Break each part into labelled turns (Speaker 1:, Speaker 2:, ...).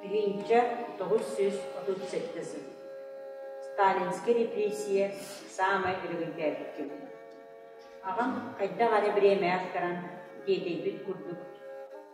Speaker 1: Тыһыынча тоҕус сүүс отут сэттэ сыл Сталинскай репрессия саамай өрөгөйдөөбүт кэмэ. Аҕам хайдах эрэ бириэмэҕэ ахтаран, диэтэйбит курдук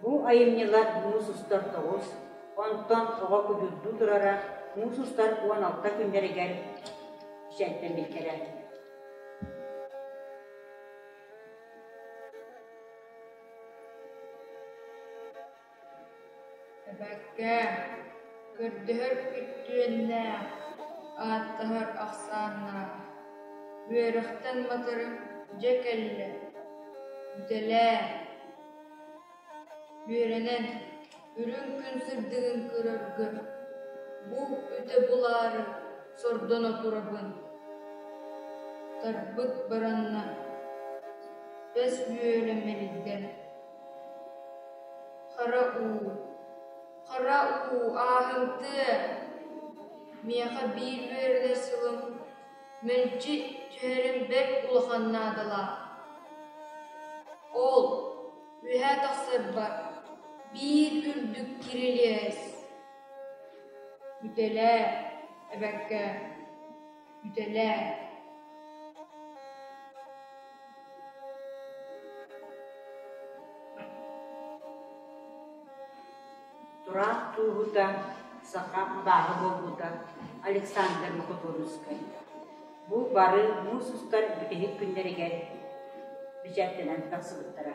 Speaker 1: Бу айымньылар муус устар тоҕус, онтон оҕо кудурдуу турара муус устар уон алта күннэригэр кичэлтэммиттэрэ Эбэккээ, көрдөһөр үтүөннээх, ааттаһар ахсааннаах, үөрэхтэн матары дьэ кэллэ, бүтэлээ, үөрэнэн, үрүҥ күн сырдыгын көрөргө, бу үтө булаары сордоно турабын, тарбыт баранна, бэс үөрэ мэрийдэ Хара уу, хара уу ааһымтыа, миэхэ биир үөрэнэр сылым мэлдьи түһэрим бэрт улахан наадалаах. Ол үөһэ тахсарбар биир үрдүк кирилиэс. Итэлээ, эбэккээ Үтэлээ Тураах тууһута, саха абааһы буолбута Александр Мукотуновскай Бу бары муус устар бүтэһик күннэригэр бэчээттэнэн тахсыбыттара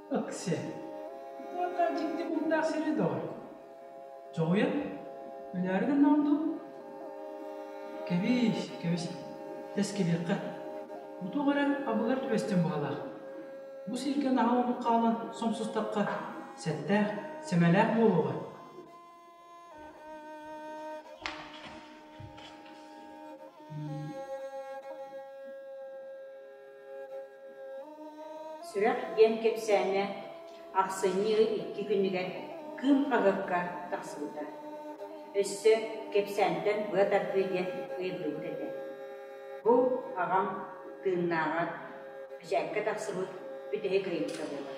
Speaker 1: Ыксыа. Туохтаах дьикти муҥнаах сири доҕой? Дьоҕуйан? Өлөөрүн оннооҕун дуу? Кэбис, кэбис. Тэс кэлиэххэ. Утук эрэ абыгар түбэстиэн баҕалаах. Бу сиргэ наһаа омук хаалан сомсустахха, сэттээх, сэмэлээх буолуоҕа. Сүрэх диэн кэпсээнэ ахсынньы икки күнүгэр Кыым хаһыакка тахсыбыта. Өссө кэпсээнтэн быа тардыы диэн ыйыллыбыт этэ. Бу аҕам тыыннааҕар эчээккэ тахсыбыт бүтэһик ыйытта буолар.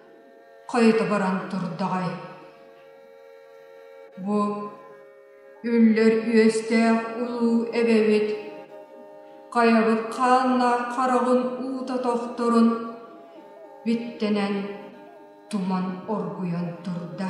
Speaker 1: Хойутугуран турдаҕай, бу үллэр үөстээх улуу эбэбит хайабыт хааннаах хараҕын уута тохторун биттэнэн туман оргуйан турда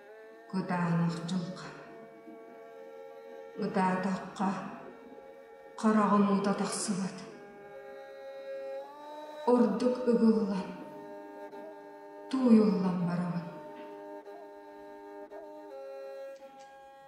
Speaker 1: Кутаанахчым, кутаатахха, хараҕым уута тахсыбат, ордук ыгыллан, тууйуллан барабын.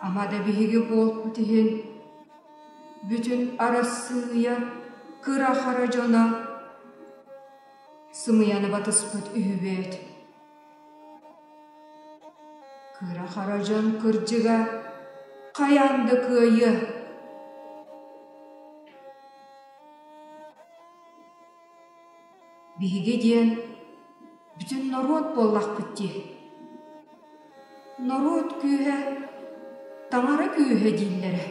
Speaker 1: Ама да биһиги буолбут иһин бүтүн Арассыыйа кыра-хара дьоно сымыйаны батыспыт үһү бэйт. Кыра-хара дьон кырдьыга хайаан да кыайыа. Биһиги диэн бүтүн норуот буоллахпыт дии. Норуот күүһэ таҥара күүһэ дииллэрэ.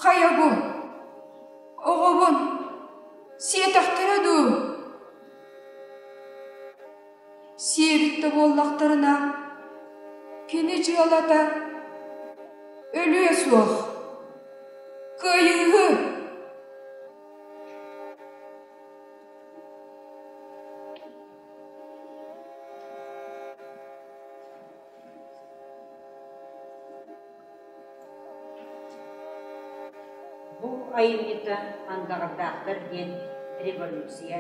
Speaker 1: Хайа бу? Оҕобун сиэтэхтэрэ дуу? Сиэбиттэ буоллахтарына, кини дьыалата өлүө суох. Кыайыыһы! Бу айымньыта Андаҕардаахтар диэн революция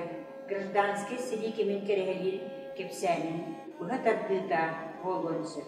Speaker 1: гражданскай сэрии кэмин кэрэһэлиир кэпсээнин быһа тардыыта буолуон сөп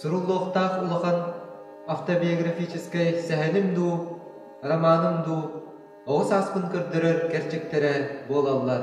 Speaker 1: суруллуохтаах улахан автобиографическай сэһэным дуу, романым дуу оҕо сааспын көрдөрөр кэрчиктэрэ буолаллар